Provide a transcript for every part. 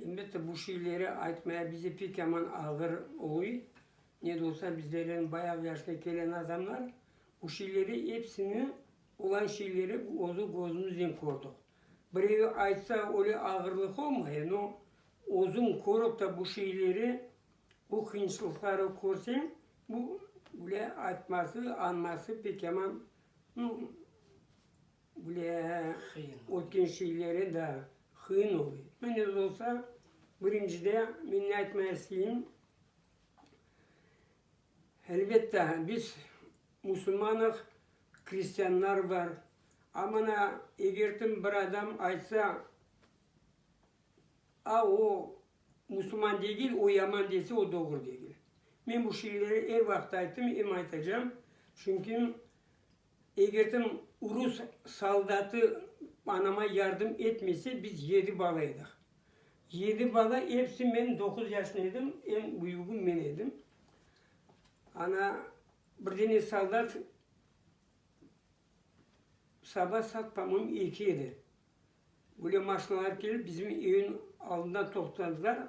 Elbette, bu şeyleri aytmaya bize pek yaman ağır oluy. Ne de olsa, bizlerden bayağı yaşına kelen adamlar. Bu şeyleri epsini, olan şeyleri özü gözümiznen kördik. Birevi aytsa, öyle ağırlıq olmay, no, özüñ körip ta bu şeyleri, bu qıyınçılıqları körseñ, bu, bile aytması, anması pek yaman, no, Bile ötken şeyleri da qıyın oluy. Men öz olsa, birincide, men ne aytmay isteyim, elbette, biz musulmanıq, kristianlar bar. A mana egertim bir adam aytsa, a o musulman degil, o yaman dese, o doğru degil. Men bu şeyleri er vaqıt ayttım, em aytacam. Çünki Egerden rus soldatı anama yardım etmese, biz yedi bala edik. Yedi bala, episi, men doquz yaşında edim, eñ büyügi men edim. Ana, bir dene soldat saba saat, po-moyem, eki edi. Böyle maşinalar kelip bizim evin aldında toqtadılar.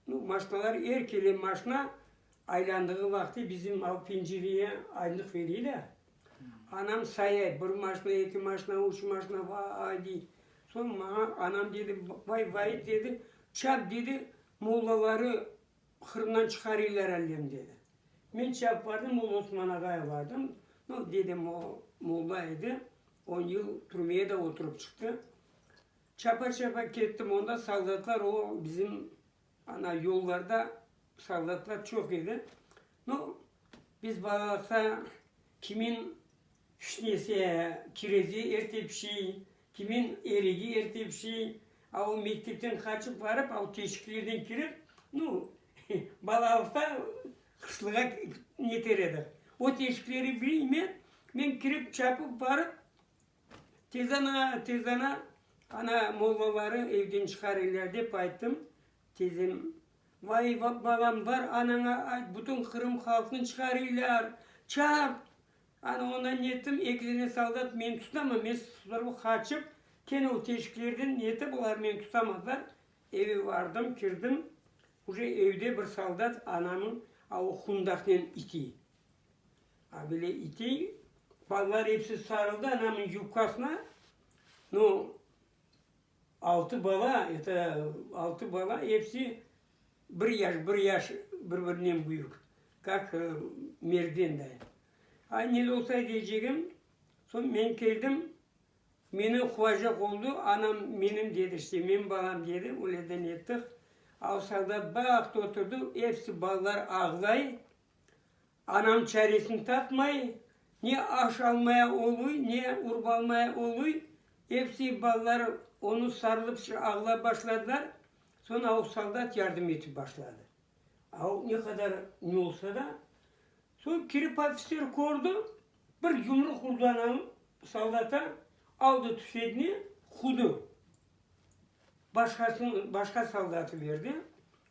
Nu, maşinalar er kele maşina aylandığı vaqıtı bizim al pencereye aynıq vereyler. Anam sayay, bir maşina, eki maşina, üç maşina, vay dey. Soñ maña anam dedi, vay Vait dedi, çap dedi, mollaları Qırımdan çıqarıylar allem, dedi. Men çap bardım, Molla Osman ağaya bardım. No, dedem o molla edi, on yıl türmeye de oturıp çıqtı. Çapa-çapa kettim, onda soldatlar o bizim ana yollarda soldatlar çoq edi. No, biz balalıqta kimin fişnesi, kirezi erte pişey, Kimin erigi ertepsi, a o mektepten qaçıp barıp, a o teşiklerden kirip, nu, balalıqta qışlığa neter edik. O teşikleri bileyim men, men kirip, çapıp barıp, tezden a, tezden a, ana, mollaları evden çıqar eller dep ayttım. Tezden, vay, balam, bar anaña ayt, bütün Qırım halqını çıqar eller, çap! Ana, ondan nettim, eki dene soldat meni tutama, men sıpırıp qaçıp, kene o teşiklerden nete, bular meni tutamazlar. Eve bardım, kirdim, uje evde bir soldat anamnıñ a o qundaqnen itiy, a bile itiy. Balalar episi sarıldı anamnıñ yubkasına, no, Altı bala, ete, altı bala, epsi bir yaş, bir yaş bir-birinen büyük, kak mergen da. Ay, ne de olsa deycegim, soñ men keldim, meni quvacaq oldu, anam menim dedi, işte, menim balam dedi, öyleden ettik. A o soldat baqtı, oturdı, epsi balalar ağlay. Anam çaresini tapmay, ne aş almaya oluy, ne urb almaya oluy. Episi balalar onı sarılıp ağlap başladılar. Soñ aul soldat yardım etip başladı. Aul ne qadar ne olsa da. Soñ kirip ofitser kördi, bir yumruq urdı anam soldata, aldı tüfegni, qudı. Başqasını, başqa soldatı berdi.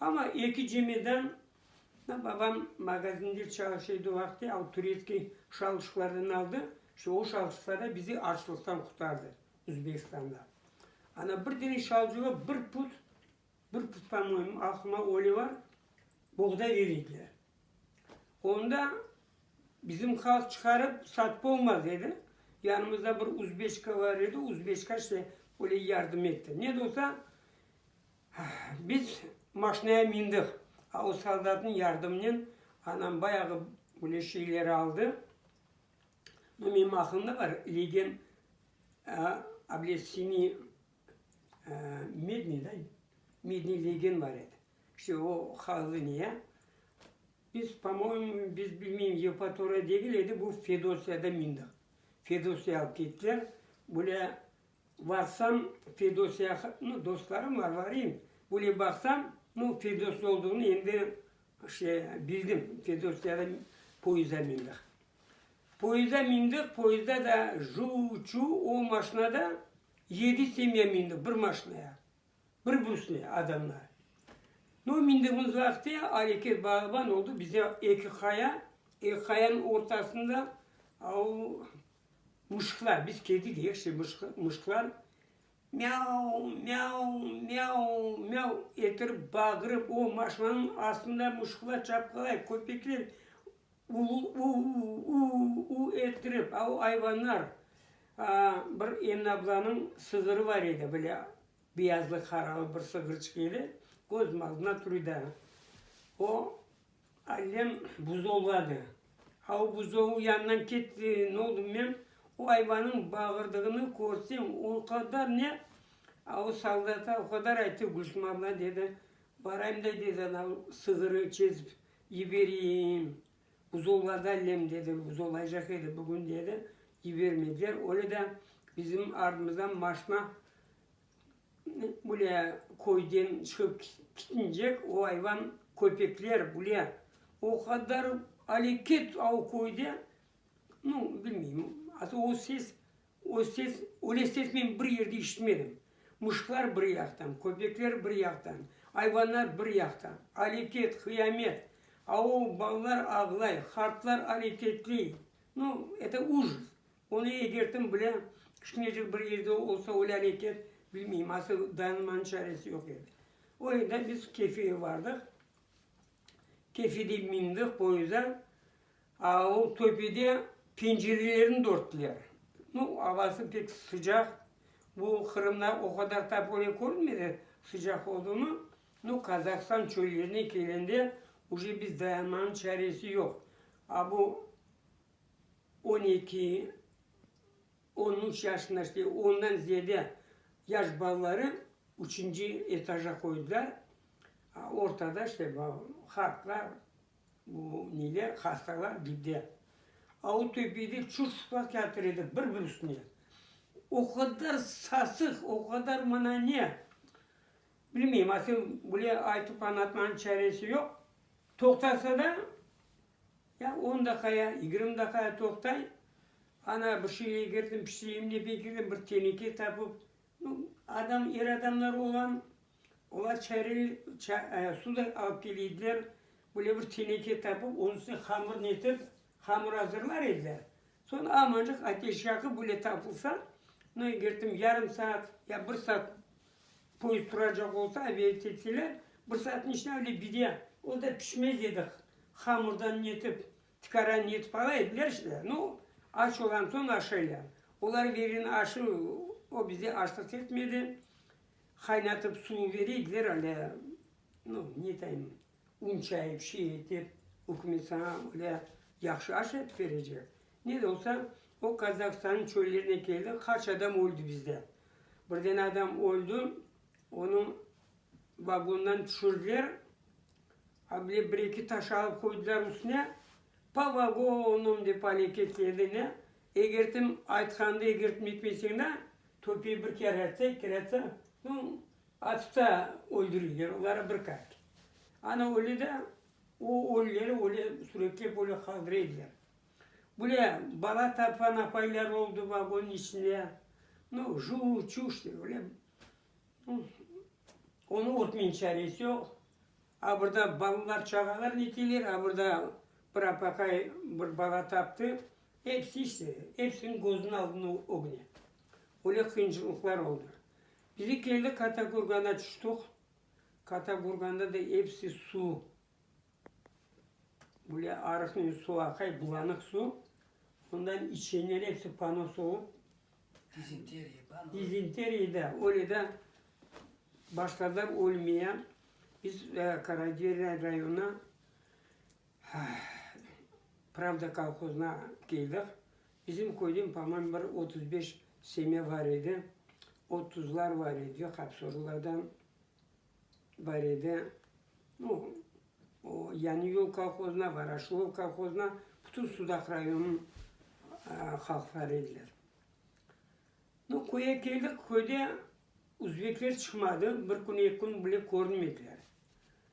Amma eki cemeden babam magazinde çalışa edi o vaqıtta, al turetskiy şalışıqlardan aldı, işte o şalışıqlar da bizi açlıqtan qurtardı Özbekistanda. Ana bir dene şalcığa bir put, bir put pa moyim, aqlıma öyle bar, boğday bere ediler. Onda bizim halq çıqarıp satıp olmaz dedi, yanımızda bir uzbeçka bar edi, uzbeçka işte öyle yardım etti. Ne de olsa, Biz maşinaya mindik. O soldatnıñ yardımınen anam bayağı böyle şeyleri aldı. No menim aqlımda bar, legen obletseniy medniy da, medniy legen bar edi. İşte o hallı ne ya. Biz, po moyemu, biz bilmeyim, Yevpatoriya degil edi, bu Fedosiyada mindik. Fedosiya alıp kettiler. Böyle Varsam, Fedös yaq, nu, dostlarım var, varayım. Böyle baqsam, nu, Fedös ne olduğını endi şey, bildim. Fedös yanı poyıza mindik. Poyıza mindik, poyızda da juv-çuv, o maşinada yedi semya mindik, bir maşinaya. Bir büsne adamlar. No mindiğimizlaqte areket bağban oldu bize eki qaya, eki qayanıñ ortasında au muşklar, biz kedi deyik şey muşklar miau, miau, miau, miau ettirip bağırıp o maşinanıñ astında muşklar çapqalay köpekler U-u-u-u-u-u-u-u ettirip, a o ayvanlar, aa, bir Emine ablanıñ sığırı bar edi, böyle beyazlı, qaralı bir sığırçıq edi, közüm aldında tur edi. O, allem buzovladı. A o buzovı yanından ketti, ne oldu bilmem, o ayvanıñ bağırdığını körsem, o qadar ne, a o soldata o qadar ayttı, Gülsüm abla, dedi, barayım da, dedi, anav sığırı çezip Yibereyim, buzovlarda allem, dedi, buzovlaycaq edi bugün, dedi, yibermediler. Öyle de bizim ardımızdan maşna böyle köyden çıqıp kitincek, o ayvan köpekler böyle o qadar aleket o köyde, nu, bilmeyim, o ses O ses, öyle ses men bir yerde işitmedim. Muşklar bir yaqtan, köpekler bir yaqtan, ayvanlar bir yaqta. Aletet, qıyamet! Ao, balalar ağlay, qartlar aletetley. Nu, eto ujjs. Onı egertim bile, kişnecik bir yerde olsa öyle aletet, bilmeyim, asıl dayanmanıñ çaresi yoq edi. O enda biz kefeye bardıq. Kefede mindik poyozda. Ol töpede pencerelerini dörttiler. Nu, avası pek sıcaq, bu Qırımda o qadar topole körünmedi, sıcaq olduğını. Nu, Qazahstan çöllerine kelende uje biz dayanmanıñ çaresi yoq. A bu on eki, on üç yaşında, işte ondan ziyade yaş balaları üçünci etaja qoydılar. Ortada işte bu halqlar. Bu neler hastalar gide. Autobiyde çür sıplap yatır edik bir bir üstüne. O qadar sasıq, o qadar mana ne. Bilmeyim, asıl bile aytıp añlatmağın çaresi yoq. Toqtasa da, ya on daqa ya yigirmi daqa toqtay, ana bir şey egerdim, pişireyim dep egerdim, bir teneke tapıp, nu, adam, er adamlar olam. Olar çayırı suday alıp keleydiler, böyle bir teneke tapıp, onıñ üstüne hamırnı etip, hamır azırlar ediler. Soñ amancıq ateş yaqıp, böyle tapılsa, no eger tam yarım saat ya bir saat poezd turacaq olsa, obedet etseler, bir saatnıñ içinde öyle bide, o da pişmez edi, hamırdan ne etip, tikara ne etip ala ediler işte. No, aç olam soñ aşaylar. Olar beri aşı, o bize açlıq etmedi. Qaynatıp suv ver ediler alâ, no, netayım, un çayıp, şey etip, ükümet saña alâ yahşı aş yapıp berecek. Ne de olsa, o Kazahstannıñ çöllerine keldi, qaç adam öldi bizde. Bir dene adam öldi, onıñ vagondan tüşürdiler, a bile bir-eki taş alıp qoydılar üstüne, Po vagoonum dep aleket etti, ne, Eger tim aytqanını egertme etmeseñ da, töpeye bir kere atsa, kere atsa, no, atıp da öldürirler, olara bir kart. Ana öyle da, o ölüleri öyle suretlep öyle qaldır ediler. Bule bala tapqan apaylar oldı vagonnıñ içinde, no, juv, çuş dep öyle, no, onı örtmeyin çaresi yoq. A burada balalar, çağalar neteler, a burada bir apaqay bir bala taptı, Episi işte, epsiniñ gözüniñ aldında ögüne. Öyle qıyıncılıqlar oldı. Bizi keldik Katakurgana tüştik. Katakurganda da episi suv. Böyle arıqnen suv aqay, bulanıq suv. Ondan içenler episi panos olıp. Dizenteriya, panos. Dizenteriya, da. Öyle da başladılar ölmeye. Biz Karaciğer rayonına. Pravda kolhozına keldik. Bizim köyden, pomoyim, bir otuz beş semya bar edi. Otuzlar bar edi, Qapsorlılardan bar edi. Nu, o Yañı yol kolhozına, Varaşılo kolhozına, bütün Sudaq rayonınıñ halqları ediler. Nu, köye keldik, köyde uzbekler çıqmadı, bir kün, eki kün bile körünmediler.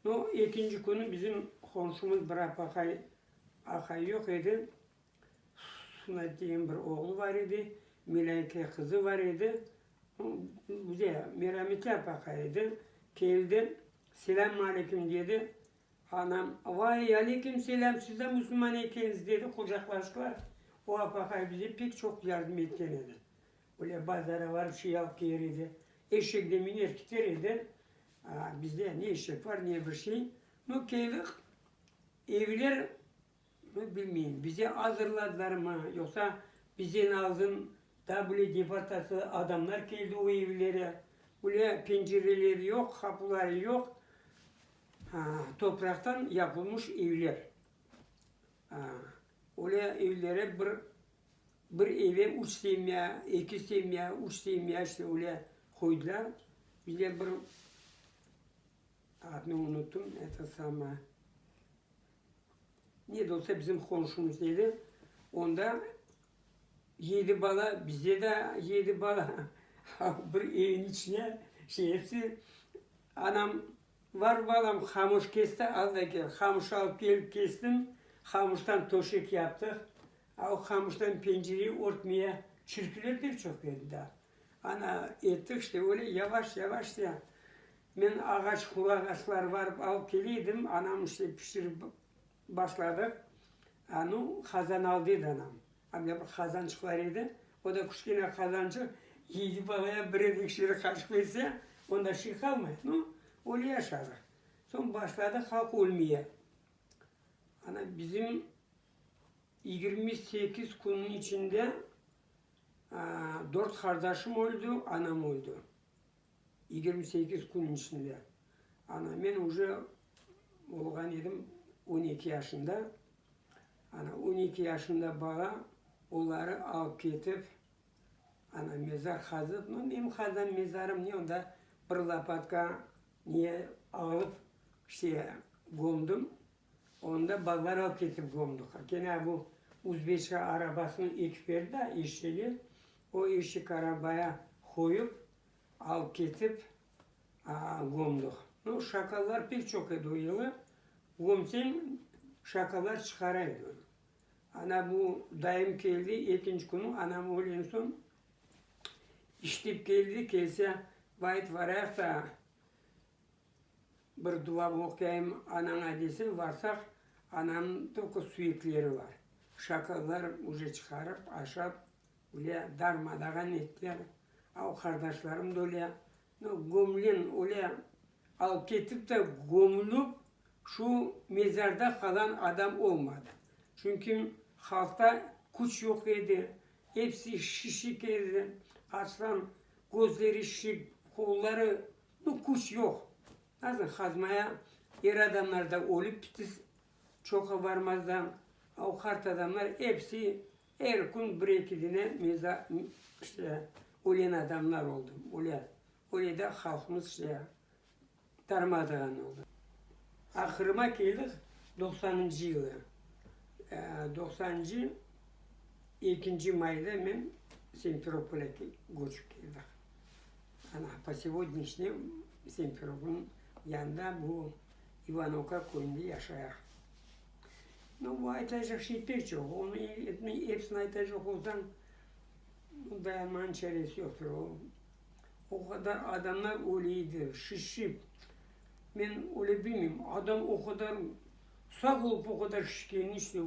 No. Ekinci künü bizim qonşumız bir apaqay aqay yoq edi. Sumet degen bir oğlu bar edi, Melâyke qızı bar edi. Bize merametli apaqay edi. Keldi, selâm aleykim dedi. Anam, vay, aleykim selâm, sizde musulman ekeñiz, dedi, qucaqlaştılar. O apaqay bize pek çoq yardım etken edi. Böyle bazara barıp şey alıp kelir edi, eşekte miner keter edi. Bizde ne eşek var, ne bir şey. Nu, keyliq evler, nu, bilmeyim, bize azırladılar mı, yoqsa bizden aldın, daa bile deportatsiya adamlar keldi o evlere. Bile pencereleri yoq, qapuları yoq, topraqtan yapılmış evler. Öyle evlere bir Bir eve üç semya, eki semya, üç semya, işte öyle qoydılar. Bizler bir, adını unuttum, eto sama, ne de olsa bizim qonşumız edi. Onda yedi bala, bizde de yedi bala, bir eviñ içine şey hepsi. Anam, var balam, qamış kes de al da kel. Qamış alıp kelip kestim, qamıştan töşek yaptıq. Al qamıştan pencere örtmeye çirkiler de çoq edi da. Ana, ettik işte öyle yavaş-yavaş diye. Men ağaç, hurra ağaçları barıp alıp kele edim, anam işte pişirip başladıq. Anı qazan aldı edi anam. Anda bir qazançıq bar edi, o da kişkene qazançıq, yedi balaya bir edik içeri qaşıq berse, onda şey qalmay. Nu, öyle yaşadıq. Soñ başladı halq ölmeye. Ana bizim Yigirmi sekiz künniñ içinde dört qardaşım öldi, anam öldi. Yigirmi sekiz künniñ içinde. Ana, men uje olğan edim on eki yaşında. Ana, on eki yaşında bala, oları alıp ketip, ana, mezar qazıp, no, menim qazan mezarım ne, onda bir lapatka ne alıp, işte, gömdim. Onda balalar alıp ketip gömdiqler. Kene bu uzbeçka arabasını ekip berdi da eşege, o eşek arabaya qoyıp, alıp ketip gömdiq. No, şakallar pek çoq edi o yılı. Gömseñ, şakallar çıqara edi onu. Ana bu dayım keldi, ekinci künü anam ölgen soñ, işlep keldi, kelse, vay, aytıp varayıq da, Bir dua oquyayım anaña dese, varsaq, anam tokı suyekleri bar. Şakallar uce çıqarıp, aşap, ulâ, darma-dağan ettiler. Al, qardaşlarım da ulâ. No, gömülen, ulâ, alıp ketip de gömülip, şu mezarda qalan adam olmadı. Çünki halqta küç yoq edi, episi şişik edi. Açsam, közleri şişik, qolları Bu küç yoq. Nasıl qazmaya, er adamlar da ölip bitis, çoqa barmazdan, o qart adamlar epsi er kün bir eki dine meza, işte, ölen adamlar oldı, öle, öyle de halqımız, işte, darmadağın oldı. Ahırıma keldik doqsanıncı yılı. Doqsanıncı ekinci mayda men Simferopolge köçip keldik. Ana, po sevodnişne Simferopolnıñ yanında bu İvanovka köyünde yaşayaq. No, bu aytacaq şey pek çoq. Onı epsini aytacaq olsañ, dayanmanıñ çaresi yoqtır. O, o qadar adamlar öleydi, şişip. Men öyle bilmeyim, adam o qadar sağ olıp, o qadar şişkeni işte.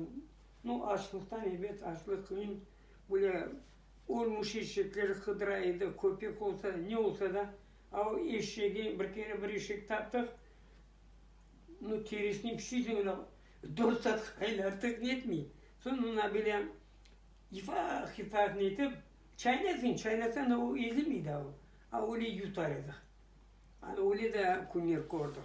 No, açlıqtan, elbet, açlıq, qıyın, böyle Ölmüş eşekler Hıdıra edi, köpek olsa, ne olsa da, a o eşegi bir kere bir eşek taptıq, no terisini pişirdik, ona dört saat qaynattık, netmey. Soñ ona böyle yifah yifah netip, çaynasıñ, çaynasañ da o ezilmey daa o, a öyle yutar edik. Ana öyle de künler kördik.